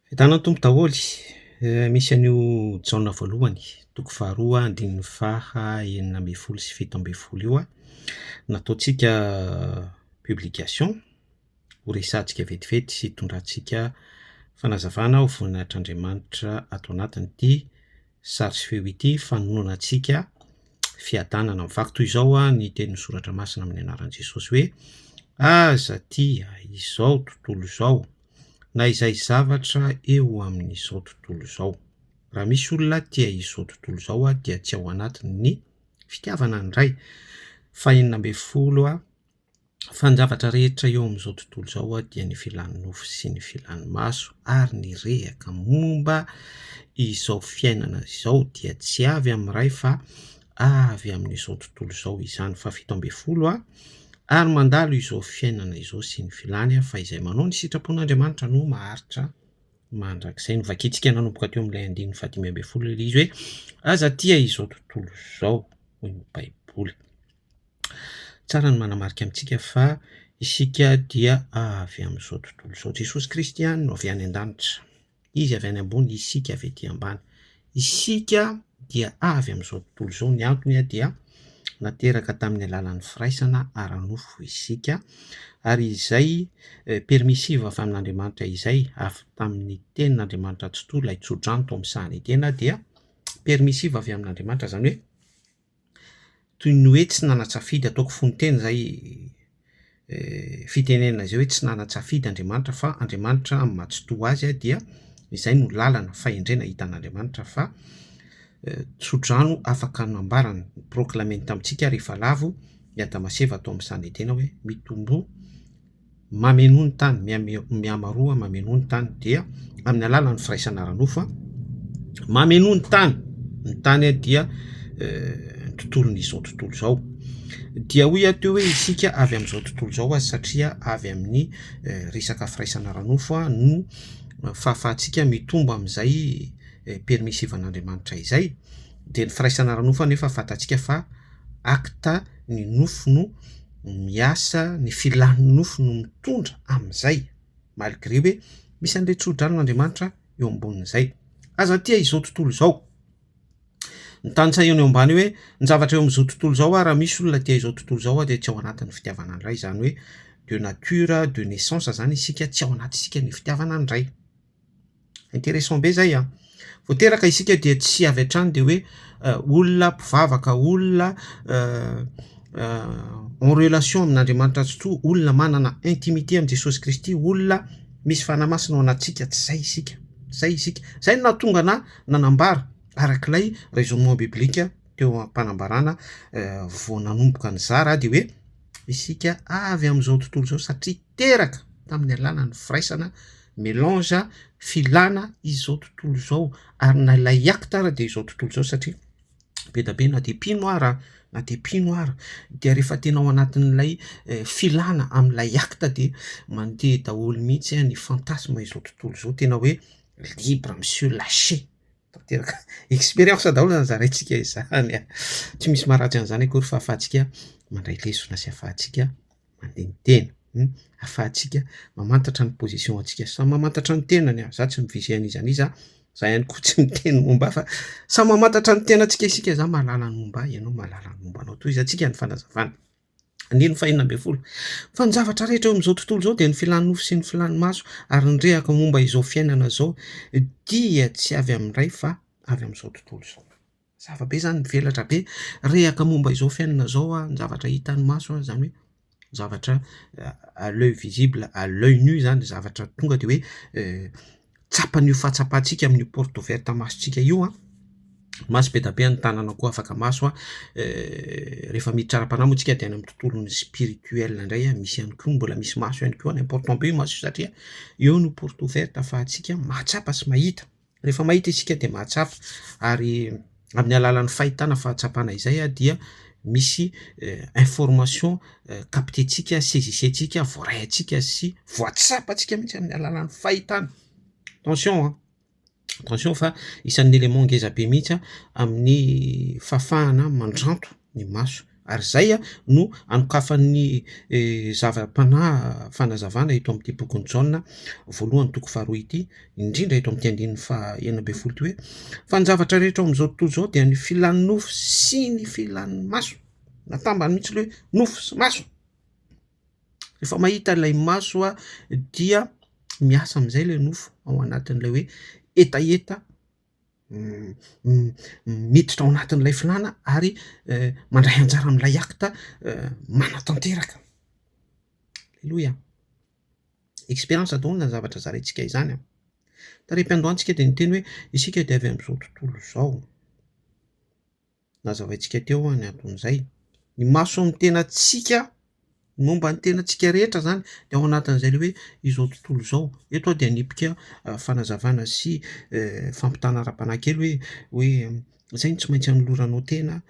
Fidana ny Tompo daholo, misy an'io Jaona voalohany toko faharoa andininy faha enina ambin'ny folo sy fito ambin'ny folo io nataontsika publication ho resahantsika vetivety sy hitondrantsika fanazavana ho voninahitr'Andriamanitra ato anatin'ity sary sy feo ity fanonona antsika fiadanana. Vaky toy izao ny tenin'ny soratra masina amin'ny anaran'i Jesosy hoe aza tia izao tontolo izao. na izay zavatra eo amin'izao tontolo izao. Raha misy olona tia izao tontolo izao dia tsy ao anatiny ny fitiavana ny Ray. Fahenina ambin'ny folo, Fa ny zavatra rehetra eo amin'izao tontolo izao dia ny filan'ny nofo sy ny filan'ny maso ary ny rehaka momba izao fiainana izao dia tsy avy amin'ny Ray fa avy amin'izao tontolo izao izany fahafito ambin'ny folo a ary mandalo izao fiainana izao sy ny filany a fa izay manao ny sitrapon'Andriamanitra no maharitra mandrakizay ny vakintsika nanomboka teo amin'ilay andininy fahadimy ambin'ny folo ilay izy hoe aza tia izao tontolo izao hoy ny baiboly tsara ny manamarika amintsika fa isika dia avy amin'izao tontolo izao jesosy kristy ihany no avy any an-danitra Izy avy any ambony, isika avy ety ambany. Isika dia avy amin'izao tontolo izao. Ny antony dia nateraka tamin'ny alalan'ny firaisana ara-nofo isika, ary izay permissive avy amin'Andriamanitra izay, avy tamin'ny Tenin'Andriamanitra tsitoha, ilay tsodrano tao amin'ny sahan'Edena, dia permissive avy amin'Andriamanitra, izany hoe, toy ny hoe tsy nanan-tsafidy, ataoko fohy ny teny izay fitenenana izay hoe tsy nanan-tsafidy Andriamanitra fa Andriamanitra amin'ny maha tsy toa azy dia izay no lalana, fahendrena hita an'Andriamanitra fa tso-drano afaka nambara ny proclame-ny tamintsika rehefa lavo i Adama sy Eva tao amin'ny Sanedena hoe mitomboa mamenoa ny tany, mihamaroa mamenoa ny tany dia amin'ny alalan'ny firaisana ara-nofo an, mamenoa ny tany, ny tany dia ny tontolon'izao tontolo izao, dia hoy ato hoe isika avy amin'izao tontolo izao aza satria avy amin'ny resaka firaisana ara-nofo no fahafahantsika mitombo amin'izay permissive an'Andriamanitra izay, dia ny firaisana ara-nofo anefa fantantsika fa acte. ny nofo no miasa ny filan'ny nofo no mitondra amin'izay malgré hoe misy an'ilay tso-dranon'Andriamanitra eo ambonin'izay aza tia izao tontolo izao ny tantsaha eo ambany hoe ny zavatra eo amin'izao tontolo izao aho raha misy olona tia izao tontolo izao aho dia tsy ao anatin'ny fitiavana ny Ray izany hoe de nature de naissance izany isika tsy ao anaty isika ny fitiavana ny Ray Intéressant be zay an! Vao teraka isika dia tsy avy hatrany dia hoe olona mpivavaka, olona en relation amin'Andriamanitra Ratsitoha, olona manana intimité amin'i Jesosy Kristy, olona misy Fanahy Masina ao anatintsika, tsy izay isika, tsy izay isika. Izay no nahatonga anà nanambara araka ilay raisonnement biblique teo am-panambarana vao nanomboka nizara dia hoe, isika avy amin'izao tontolo izao satria teraka tamin'ny alalan'ny firaisana melange filana izao tontolo izao ary na ilay acte ary dia izao tontolo izao satria be dia be na dia mpino ara na dia mpino ara dia rehefa tena ao anatin'ilay filana amin'ilay acte dia mandeha daholo mihitsy ny fantasme izao tontolo izao tena hoe libre monsieur lâcher tanteraka expérience daholo zany zaraintsika izany a, tsy misy maharatsy an'izany akory fa ahafahantsika mandray lesona sy ahafahantsika maneniteny, ahafahantsika mamantatra ny position antsika, samy mamantatra ny tenany a, za tsy mi-vise an'iza an'iza, za ihany koa tsy miteny momba ahy fa samy mamantatra ny tenantsika isika, za mahalala ny momba ahy, ianao mahalala ny momba anao, tohizantsika ny fanazavana. Andininy fahenina ambin'ny folo. Fa ny zavatra rehetra eo amin'izao tontolo izao dia ny filan'ny nofo sy ny filan'ny maso, ary ny rehaka momba izao fiainana izao dia tsy avy amin'ny Ray fa avy amin'izao tontolo izao. Zava-be izany, mivelatra be rehaka momba izao fiainana izao, ny zavatra hitan'ny maso, izany hoe zavatra à l'oeil visible, à l'oeil nu izany, zavatra tonga dia hoe tsapan'io fahatsapantsika amin'io porte ouverte masontsika io an, maso be dia be ny tanana koa afaka maso an, rehefa miditra ara-panahy moa isika dia any amin'ny tontolon'ny spirituel indray an, misy ihany koa mbola misy maso ihany koa any, important be io maso io satria eo no porte ouverte ahafahantsika mahatsapa sy mahita, rehefa mahita isika dia mahatsapa ary amin'ny alalan'ny fahitana fahatsapana izay dia misy information captentsika, saisisentsika, voaraintsika sy voatsapantsika mihitsy amin'ny alalan'ny fahitana. Attention an! Attention fa isan'ny élément ngezabe mihitsy amin'ny fahafahana mandranto ny maso. Ary izay no anokafan'ny zava-panahy fanazavana eto amin'ity bokin'i Jaona voalohany toko faharoa ity, indrindra eto amin'ity andininy fahenina ambin'ny folo ity hoe, Fa ny zavatra rehetra ao amin'izao tontolo izao dia ny filan'ny nofo sy ny filan'ny maso. Natambany mihitsy ilay hoe nofo sy maso. Rehefa mahita ilay maso dia miasa amin'izay ilay nofo ao anatin'ilay hoe hetaheta miditra ao anatin'ilay filàna ary mandray anjara amin'ilay acte manatanteraka. Aleloia. Expérience daholo ny zavatra zaraintsika izany. Tarehi-piandohantsika dia niteny hoe isika dia avy amin'izao tontolo izao. nazavaintsika teo ny anton'izay. Ny mason'ny tenantsika momba ny tenantsika rehetra izany dia ao anatin'izay ilay hoe izao tontolo izao. Eto aho dia hanipika fanazavana sy fampitana ara-panahy kely hoe hoe izay no tsy maintsy anoloranao tena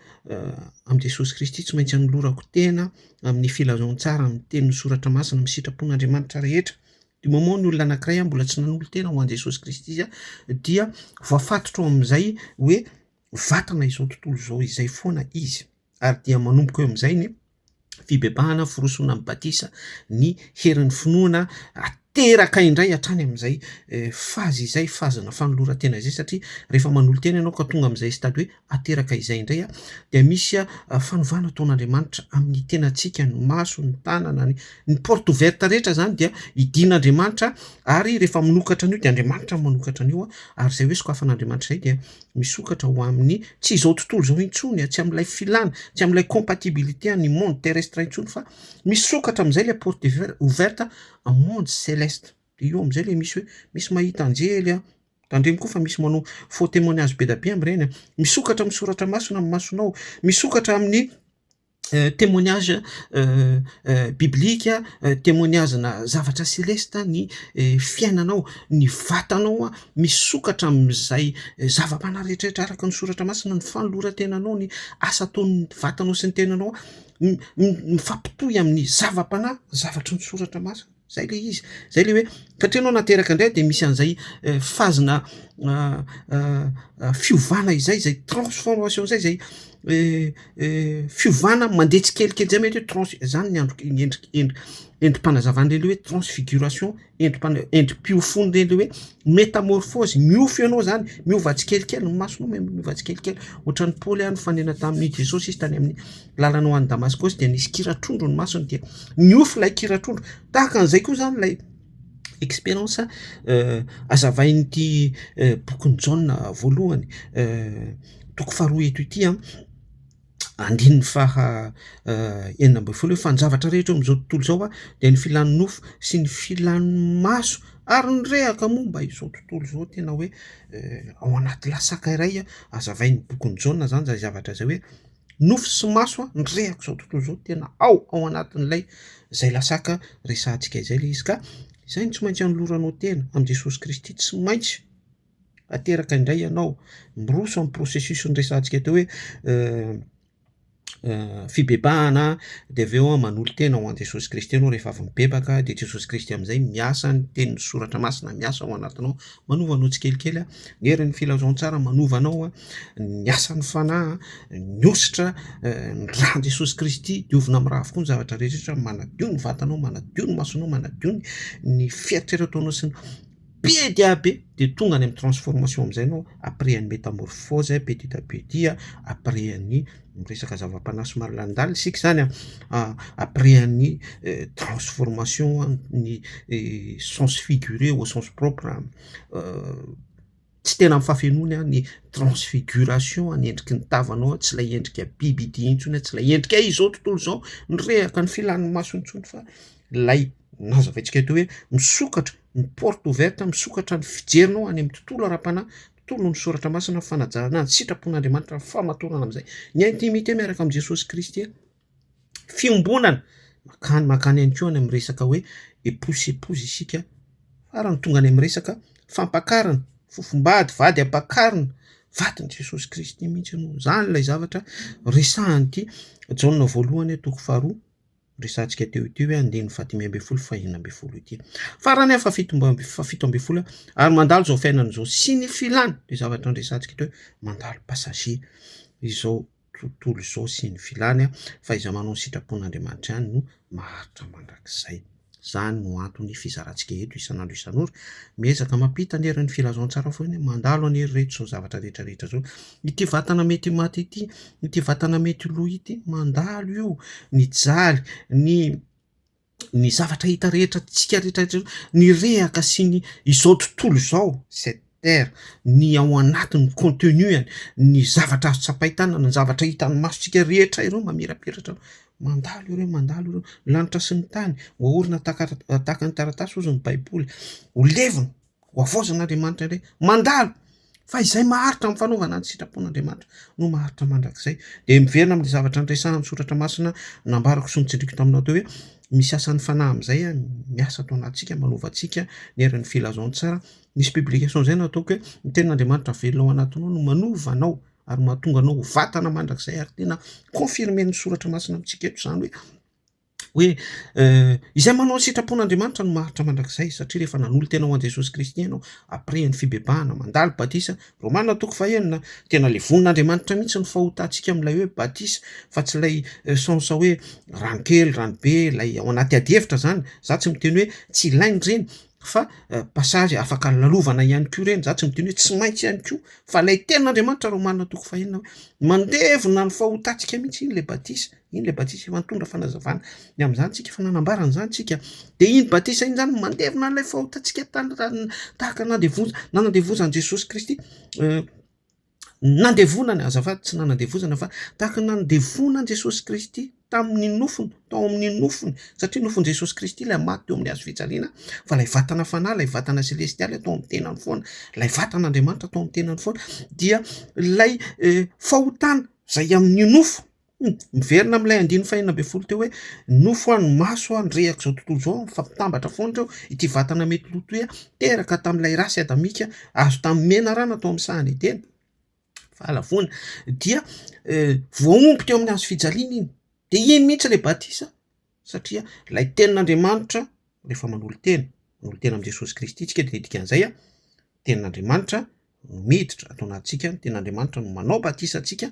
amin'i Jesosy Kristy, tsy maintsy anolorako tena amin'ny filazantsara ny tenin'ny soratra masina amin'ny sitrapon'Andriamanitra rehetra. Du moment ny olona anankiray mbola tsy nanolo-tena ho an'i Jesosy Kristy dia voafatotra ao amin'izay hoe vatana izao tontolo izao izay foana izy ary dia manomboka eo amin'izay ny fibebahana firosoana amin'ny batisa ny herin'ny finoana ateraka indray hatrany amin'izay eh, fazy izay fazina fanoloran-tena izay satria rehefa manolo-tena ianao ka tonga amin'izay stady hoe ateraka izay indray a dia misy ah, fanovana ataon'andriamanitra amin'ny tenantsika ny maso ny tanana ny ny porte ouverte rehetra zany dia idin'andriamanitra ary rehefa minokatra an'io dia andriamanitra manokatra an'io a ary izay hoe sokafan'andriamanitra izay dia misokatra ho amin'ny tsy izao tontolo izao intsony a, tsy amin'ilay filana, tsy amin'ilay compatibilité an'ny monde terrestre intsony fa misokatra amin'izay ilay porte ouverte en monde celeste, de io amin'izay ilay misy hoe misy mahita anjely a, tandremo koa fa misy manao faux témoignage be dia be amin'ireny a, misokatra amin'ny soratra masina ny masonao, misokatra amin'ny Témoignage biblika, témoignage-na zavatra selesta ny fiainanao, ny vatanao misokatra amin'izay zava-panahy rehetra araka ny soratra masina, ny fanoloran-tenanao, ny asa ataon'ny vatanao sy ny tenanao mifampitohy amin'ny zava-panahy, ny zavatry ny soratra masina. Zay le izy. Zay le hoe satria anao nateraka indray de misy an'izay fazina fiovana izay, zay transformation zay, zay fiovana mandeha tsikelikely zay mety hoe trans- zany ny andro ny endrik- endri- endri-panazavan'le le hoe transfiguration, endri-pana- endri-piofoan'le le hoe metamorphose, miofo ianao zany, miova tsikelikely ny masonao miova tsikelikely, ohatran'i Paoly ihany nifanena tamin'i Jesosy izy tany amin'ny. lalana ho any Damaskosy dia nisy kira trondro ny masony dia niofo ilay kira trondro. Tahaka an'izay koa izany ilay expérience euh, azavain'ity euh, bokin'i Jaona voalohany euh, toko faharoa eto ity an andininy faha euh, enina ambin'ny folo fanjavatra rehetra amin'izao tontolo izao a dia ny filan'ny nofo sy ny filan'ny maso ary ny rehaka momba izao tontolo izao tena hoe euh, ao anaty lasaka iray azavain'ny bokin'i Jaona izany zay zavatra izay hoe nofy sy maso a, ny rehako izao tontolo izao tena ao ao anatin'ilay izay lasaka resahantsika izay ilay izy ka izay no tsy maintsy anoloranao tena amin'i Jesosy Kristy tsy maintsy ateraka indray ianao miroso amin'ny processus ny resahantsika teo hoe euh, euh, fibebahana dia avy eo manolo tena ho an'i Jesosy Kristy ianao rehefa avy mibebaka dia Jesosy Kristy amin'izay miasa ny tenin'ny soratra masina miasa ao anatinao Manova anao tsikelikely ny herin'ny filazantsara, manova anao ny asan'ny Fanahy, ny hosotra, ny ran'i Jesosy Kristy, diovina amin'ny ra avokoa ny zavatra rehetra, manadio ny vatanao, manadio ny masonao, manadio ny fieritreretanao sy ny be dia be dia tonga any amin'ny transformation amin'izay ianao après ny métamorphose petit à petit après ny Miresaka zava-panahy somary lalindaly isika izany an, après an'i transformation ny sens figuré au sens propre, tsy tena amin'ny fahafenoany an ny transfiguration ny endriky ny tavanao tsy ilay endrika biby ity intsony an, tsy ilay endrika izao tontolo izao nirehaka ny filan'ny maso intsony fa ilay nazavaintsika teo hoe misokatra ny porte ouverte misokatra ny fijerinao any amin'ny tontolo ara-panahy. toy noho ny Soratra Masina, fanajana ny sitrapon'Andriamanitra, ny famatorana amin'izay, ny intimité miaraka amin'i Jesosy Kristy, fiombonana, mankany mankany ihany koa any amin'ny resaka hoe épouse épouse isika, farany tonga any amin'ny resaka fampakarina, fofombady, vady ampakarina, vadin'i Jesosy Kristy mihitsy ianao, izany ilay zavatra resahan'ity Jaona voalohany toko faharoa. resahantsika teo ity hoe andininy fahadimy ambin'ny folo fahenina ambin'ny folo ity. Farany afa fito fahafito ambin'ny folo ary mandalo izao fiainana izao sy ny filany le zavatra andresantsika teo hoe mandalo passager izao tontolo izao sy ny filany fa iza manao ny sitrapon'Andriamanitra ihany no maharitra mandrakizay. Izany no anton'ny fizarantsika eto isan'andro isan'ora. Miezaka mampita ny herin'ny filazantsara foana hoe mandalo anie ry reto izao zavatra rehetra rehetra izao. Ity vatana mety ho maty ity, ity vatana mety ho lo ity, mandalo io, mijaly, ny ny zavatra hita rehetra antsika rehetra rehetra, ny rehaka sy ny izao tontolo izao, izay Terre, ny ao anatiny, ny contenu-any, ny zavatra azo tsapain-tanana, ny zavatra hitan'ny masontsika rehetra ireo mamirapiratra mandalo ireo, mandalo ireo, ny lanitra sy ny tany, hoaorina tahaka tahaka ny taratasy hozy ny baiboly, ho levona, ho havaozan'Andriamanitra indray, mandalo, fa izay maharitra amin'ny fanaovana ny sitrapon'Andriamanitra no maharitra mandrakizay, dia miverina amin'ny zavatra niresahan'ny soratra masina nambarako sy notsindriako taminao teo hoe misy asan'ny fanahy amin'izay miasa ato anatintsika, manova antsika ny herin'ny filazantsara. Nisy publication izay nataoko hoe ny tenin'Andriamanitra velona ao anatinao no manova anao ary mahatonga anao ho vatana mandrakizay ary tena confirmen'ny soratra masina amintsika eto izany hoe hoe izay manao ny sitrapon'Andriamanitra no maharitra mandrakizay satria rehefa nanolo-tena ho an'i Jesosy Kristy ianao après ny fibebahana mandalo batisa Romana toko fahenina tena le vonin'Andriamanitra mihitsy ny fahotantsika amin'ilay hoe batisa fa tsy ilay sens hoe rano kely rano be ilay ao anaty adihevitra izany za tsy miteny hoe tsy ilaina ireny fa passage afaka lalovana ihany koa ireny, za tsy midino hoe tsy maintsy ihany koa, fa ilay tenin'Andriamanitra Romana toko fahenina hoe mandevona ny fahotantsika mihitsy iny le batisa, iny le batisa efa nitondra fanazavana ny amin'izany tsika fa nanambara an'izany tsika, de iny batisa iny zany mandevona an'ilay fahotantsika tany tahaka nandevoza nanandevozan'i Jesosy Kristy nandevonany, azafady tsy nanandevozana fa tahaka ny nandevonan Jesosy Kristy tamin'ny nofony, tao amin'ny nofony, satria nofon'i Jesosy Kristy ilay maty teo amin'ny hazo fijaliana, fa ilay vatana fanahy, ilay vatana selestialy atao amin'ny tenany foana, ilay vatan'Andriamanitra atao amin'ny tenany foana, dia ilay eh, fahotana izay amin'ny nofo, Hum, miverina amin'ilay andininy fahenina ambin'ny folo teo hoe nofo any maso any rehaka izao tontolo izao mifampitambatra foana ireo ity vatana mety lo toy teraka tamin'ilay rasy adamika azo tamin'ny menarana tao amin'ny sahany edena vala foana dia eh, voaomby teo amin'ny hazo fijaliana iny dia iny mihitsy ilay batisa Satria ilay Tenin'Andriamanitra, rehefa manolo-tena, manolo-tena amin'i Jesosy Kristy isika dia dikan'izay, Tenin'Andriamanitra no miditra ato anatintsika, ny Tenin'Andriamanitra no manao batisa antsika,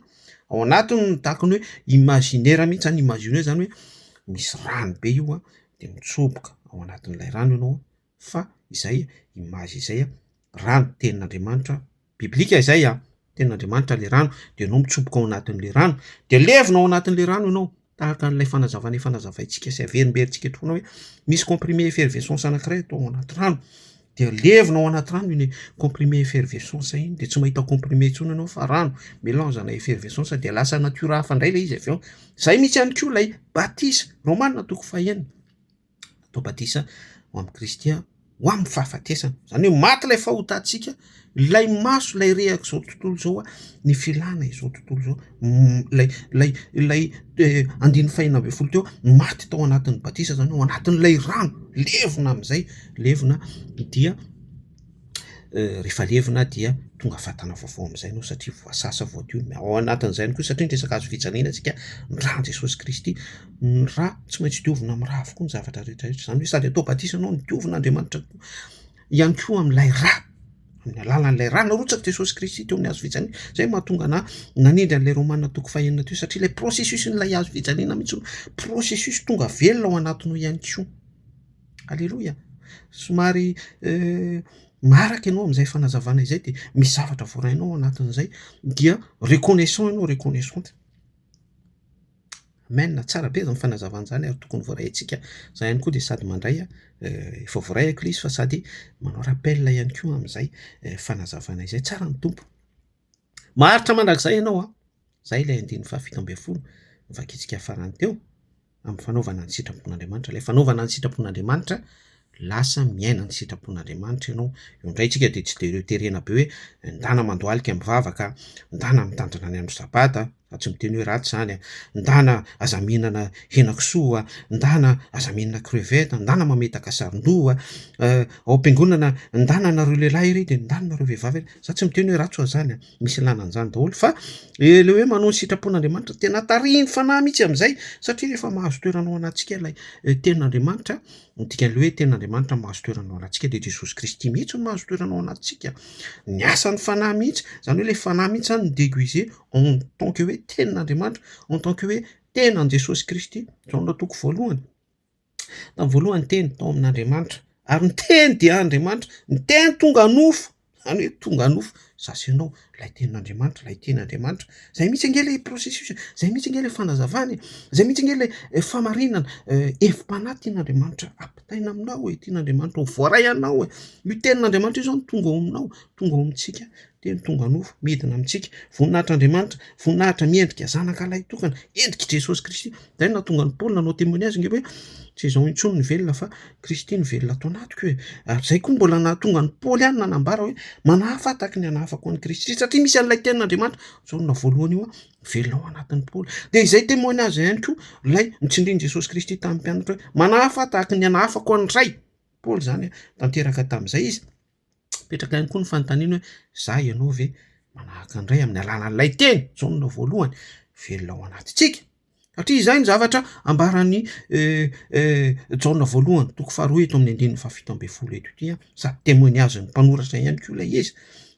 ao anatiny no tahaka ny hoe imaginaire mihitsy zany, imaginer zany hoe misy rano be io dia mitsoboka ao anatin'ilay rano ianao fa izay image izay raha ny tenin'Andriamanitra biblika izay an tenin'Andriamanitra ilay rano dia ianao mitsoboka ao anatin'ilay rano dia levona ao anatin'ilay rano ianao tahaka an'ilay fanazavana efa nazavaintsika sy averimberintsika eto foana hoe misy comprimé effervescence anankiray atao ao anaty rano dia levona ao anaty rano iny comprimé effervescence iny dia tsy mahita comprimé intsony ianao fa rano mélange ana effervescence dia lasa natiora hafa indray ilay izy avy eo izay mihitsy ihany koa ilay batisa romanina toko fahenina atao batisa ao amin'i Kristy aho ho amin'ny fahafatesana, izany hoe maty ilay fahotantsika, ilay maso ilay rehaka izao tontolo izao aho, ny filana izao tontolo izao, ilay ilay ilay andininy fahenina ambin'ny folo teo aho maty tao anatin'ny batisa izany ao anatin'ilay rano, levona amin'izay, levona dia. rehefa levona dia tonga vatana vaovao amin'izay ianao satria voasasa voadio ny ao anatin'izay ihany koa satria ny resaka hazo fijaliana isika ny ràn'i Jesosy Kristy ny rà tsy maintsy diovina amin'ny rà avokoa ny zavatra rehetra rehetra izany hoe sady atao batisa ianao no diovin'Andriamanitra koa ihany koa amin'ilay rà amin'ny alalan'ilay rà narotsaky Jesosy Kristy teo amin'ny hazo fijaliana izay no mahatonga anà nanendry an'ilay Romana toko fahenina teo satria ilay processus-n'ilay hazo fijaliana mihitsy no processus tonga velona ao anatinao ihany koa Aleloia! Somary maharaka ianao amin'izay fanazavana izay dia misy zavatra voarainao ao anatin'izay dia reconnaissant ianao, reconnaissante. Amen, tsara be izany fanazavana izany ary tokony voaraintsika. Izaho ihany koa dia sady mandray, efa voaraiko ilay izy fa sady manao rappel ihany koa amin'izay fanazavana izay. Tsara ny Tompo. Maharitra mandrakizay ianao an! Izay ilay andininy fahafito ambin'ny folo novakintsika farany teo, amin'ny fanaovana ny sitrapon'Andriamanitra. Ilay fanaovana ny sitrapon'Andriamanitra, lasa miaina ny sitrapon'Andriamanitra ianao. Io indray isika dia tsy dia terena be hoe, ndana mandohalika mivavaka, ndana mitandrina ny andro sabata, Fa tsy miteny hoe ratsy izany an! Ndana aza mihinana henakisoa an! Ndana aza mihinana crevette an! Ndana mametaka saron-doha an! Ao am-piangonana ndana nareo lehilahy ery dia ndana nareo vehivavy ery! Za tsy miteny hoe ratsy ho'a zany an! Misy ilana an'izany daholo fa ilay hoe manohy ny sitrapon'Andriamanitra tena tarihin'ny Fanahy mihitsy amin'izay satria rehefa mahazo toerana ao anatintsika ilay Tenin'Andriamanitra, ny dikan'ilay hoe Tenin'Andriamanitra mahazo toerana ao anatintsika dia Jesosy Kristy mihitsy no mahazo toerana ao anatintsika, ny asan'ny Fanahy mihitsy, izany hoe ilay Fanahy mihitsy izany no mi-deguiser. en tant que hoe tenin'Andriamanitra, en tant que hoe tenan'i Jesosy Kristy, Jaona toko voalohany, tamin'ny voalohany ny teny tao amin'Andriamanitra, ary ny teny dia Andriamanitra, ny teny tonga nofo, izany hoe tonga nofo, za sy ianao, ilay tenin'Andriamanitra, ilay teny Andriamanitra, izay mihitsy ange ilay processus e, izay mihitsy ange ilay fanazavana e, izay mihitsy ange ilay famarinana, hevi-panahy tian'Andriamanitra ampitaina aminao e, tian'Andriamanitra ho voaray anao e, io tenin'Andriamanitra io izao no tonga ao aminao, tonga ao amintsika. Teny tonga nofo, midina amintsika. Voninahitr'Andriamanitra, voninahitra miendrika zanaka lahy tokana, endrik'i Jesosy Kristy. Izay no nahatonga an'i Paoly nanao témoignage ange hoe, tsy izaho intsony no velona fa Kristy no velona ato anatiko e! Ary izay koa mbola nahatonga an'i Paoly ihany nanambara hoe, manahafa aho tahaka ny hanahafako an'i Kristy, satria misy an'ilay tenin'Andriamanitra, izao no naha voalohany io an, velona ao anatin'i Paoly. Dia izay témoignage ihany koa ilay notsindrin'i Jesosy Kristy tamin'ny mpianatra hoe, manahafa aho tahaka ny hanahafako an'ny Ray. Paoly izany an, tanteraka tamin'izay izy. Mipetraka ihany koa ny fanontaniana hoe, izaho ianao ve manahaka ny Ray amin'ny alalan'ilay teny, Jaona voalohany, velona ao anatintsika? Satria izay ny zavatra ambaran'i Jaona voalohany, toko faharoa eto amin'ny andininy fahafito ambin'ny folo eto ity, sady temoignazin'ny mpanoratra ihany koa ilay izy.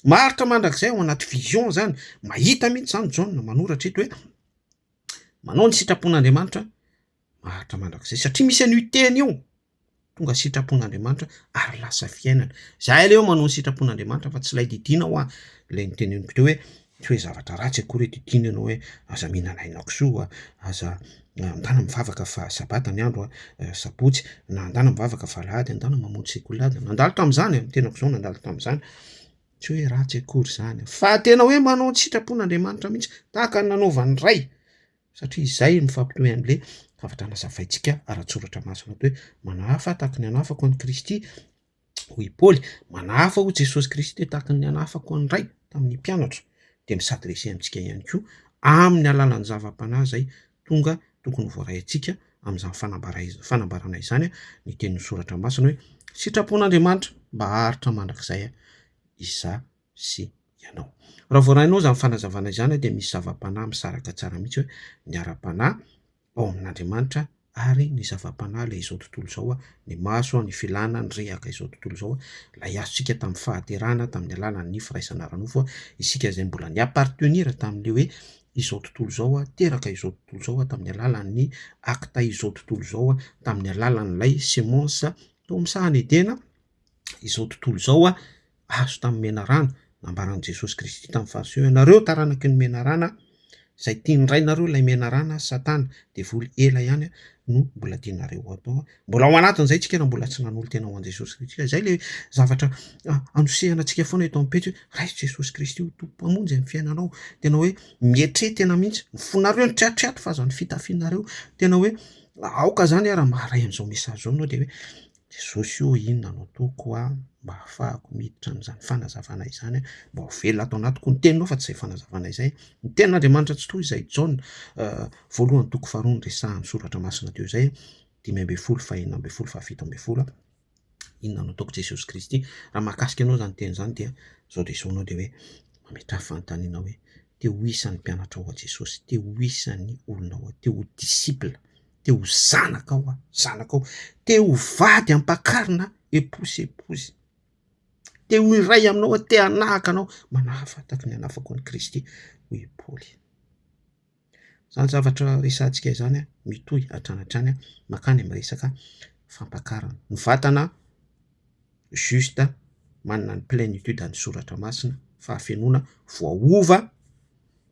Maharitra mandrakizay ao anaty vision izany, mahita mihitsy izany Jaona manoratra eto hoe, manao ny sitrapon'Andriamanitra maharitra mandrakizay, satria misy an'io teny io. Tonga sitrapon'Andriamanitra ary lasa fiainana. Izahay aleha manao ny sitrapon'Andriamanitra fa tsy ilay didiana hoa, ilay noteneniko teo hoe tsy hoe zavatra ratsy akory hoe didiana ianao hoe aza mihinana aina kisoa, aza andana mivavaka fa sabata ny andro, sabotsy, na andana mivavaka fa alahady, andana mamonjy sekolady. Nandalo tamin'izany, ny tenako izao nandalo tamin'izany, tsy hoe ratsy akory izany fa tena hoe manao ny sitrapon'Andriamanitra mihitsy tahaka ny nanaovan'ny Ray satria izay no mifampitohy amin'ilay fahafantarana zavaintsika ara-tsoratra masina toy hoe manahafa tahaka ny anafako an'i Kristy hoy i Paoly, manahafa hoy Jesosy Kristy tahaka ny anafako an'i Ray tamin'ny mpianatra dia mi s'adresser amintsika ihany koa amin'ny alalan'ny zava-panahy izay tonga tokony voaray antsika amin'izany fanambarana fanambarana izany ny tenin'ny soratra masina hoe sitrapon'Andriamanitra mba haharitra mandrakizay izaho. sy ianao. Raha voarainao izany fanazavana izany dia misy zava-panahy misaraka tsara mihitsy hoe ny ara-panahy ao amin'Andriamanitra ary ny zava-panahy ilay izao tontolo izao, ny maso, ny filana, ny rehaka izao tontolo izao, ilay azontsika tamin'ny fahaterahana tamin'ny alalan'ny firaisana ara-nofo, isika izay mbola ni appartenir tamin'ilay hoe izao tontolo izao, teraka izao tontolo izao tamin'ny alalan'ny acte izao tontolo izao, tamin'ny alalan'ilay semence tao amin'ny sahan'i Edena izao tontolo izao, azo tamin'ny menarana, nambaran'i Jesosy Kristy tamin'ny Fariseo, Ianareo taranaky ny menarana, izay tian'ny rainareo ilay menarana, Satana, devoly ela ihany, no mbola tianareo ho atao. Mbola ao anatin'izay tsika raha mbola tsy nanolo-tena ho an'i Jesosy Kristy. Ka izay ilay zavatra anosehana antsika foana eto amin'ny pejy, Raiso Jesosy Kristy ho Tompo Mpamonjy amin'ny fiainanao. Tena hoe mietre tena mihitsy, ny fonareo ny triatriato fa aza ny fitafinareo. Tena hoe aoka izany raha maharay an'izao message izao ianao dia hoe, Jesosy o inona no ataoko an mba hahafahako miditra amin'izany fanazavana izany an, mba ho velona ato anatiko ny teninao fa tsy izay fanazavana izay, ny tenin'Andriamanitra tsy toy izay Jaona voalohany toko faharoa no resahan'ny soratra masina teo izay, dimy ambin'ny folo faha enina ambin'ny folo faha fito ambin'ny folo, inona no ataoko Jesosy Kristy raha mahakasika anao izany teny izany dia zao dia zao anao dia hoe mametraha fanontaniana hoe te ho isan'ny mpianatrao ao Jesosy, te ho isan'ny olonao ao, te ho disciple. te ho zanakao aho, zanakao, te ho vady ampakarina aho, épouse, épouse, te ho iray aminao aho, te hanahaka anao, manahafa tahaka ny anahafako an'i Kristy, hoy i Paoly. Izany zavatra resahantsika izany mitohy hatrany hatrany mankany amin'ny resaka fampakarana. Ny vatana juste manana ny plenitude an'ny soratra masina, fahafenoana, voaova,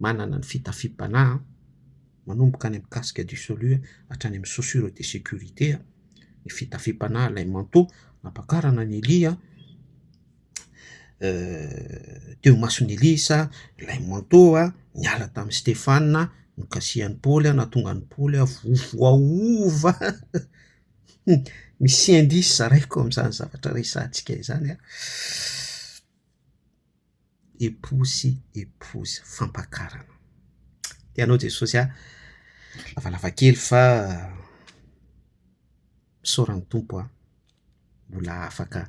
manana ny fitafiam-panahy, manomboka any amin'ny casque du salut hatrany amin'ny chaussure de sécurité, ny fitafiam-panahy ilay manteau nampakarana an'i Elia, teo imason'i Elisa ilay manteau niala tamin'i Stefana, nokasihan'i Paoly, nahatonga an'i Paoly ho voaova. Hum, misy indice zaraiko amin'izany zavatra resahantsika izany an, époux sy épouse, fampakarana. Dia anao Jesosy an, lavalava kely fa misaora ny Tompo an, mbola afaka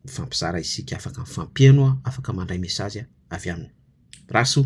mifampizara isika, afaka mifampiheno an, afaka mandray message avy aminy. Rasoa.